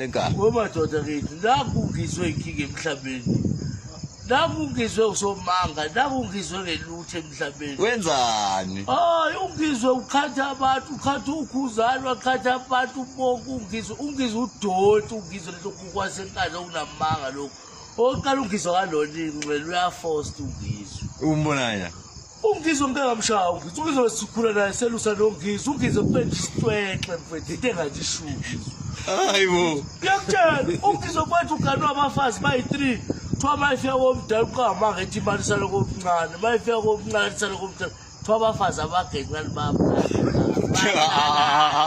lenkani wemadoda kithi nakhu ngizwe inkinga emhlabeni nakhu ngizwe usomanga nakhu ngizwe ngelutho emhlabeni wenzani hayi ungizwe ukhatha abantu ukhatha ukhuzane wakhatha abantu ubonke ungizwe ungizwe udoti ungizwe lento kukwasenkani okunamanga lokhu oqala ungizwe kalonini kumele uyafosta ungizwe umbonanya UNgizwe ngikangamshawa ngithi uNgizwe sikhula naye selusa noNgizwe uNgizwe kupenda isitwexe mfethu into engathi ishuku hayi bo ngiyakutshela uNgizwe kwethu uganwa abafazi bayi-three kuthiwa mayifika komdala uqangamanga ethi imali isale komncane mayifika komncane isale komdala kuthiwa abafazi abagencane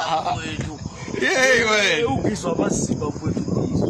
babawethu yeyi wena ugizwa amasimba mfethu ugizwa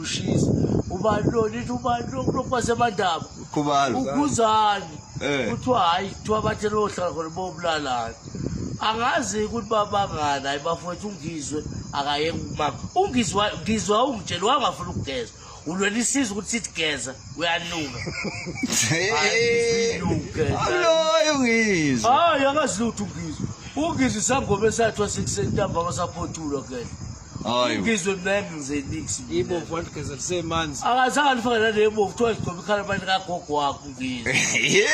ushisa ubani lo nithi ubani lo kulokhu basemandaba Khubalo. ukhuzani Eh. kuthiwa hhayi kuthiwa bathe lohlala khona bobulalana angazi ukuthi babangani hayi bafowethu ungizwe akayeke ukumama ungizwa ngizwa ungitshela wangafuna ukugeza ulwela isiza ukuthi sithi geza uyanuka Aloyo ngizwe. hayi akazilutho ungizwa ungizwa isangoma esathwa sekusentambama saphothulwa kena Hayi. Ngizwe mnandi ngize nix. Ibo vant gezel semanzi. Akazange alifaka nale ebovu kuthiwa igcoba ikhala abantu kagogo wakho ngizwe. Yeah.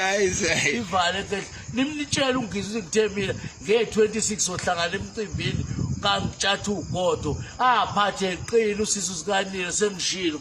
Hayi say. Ivale ke nimnitshela ungizwe ngithe mina nge-26 ohlangana emcimbini kangitshatha ugodo aphathe eqile usisu sikanile sengishilo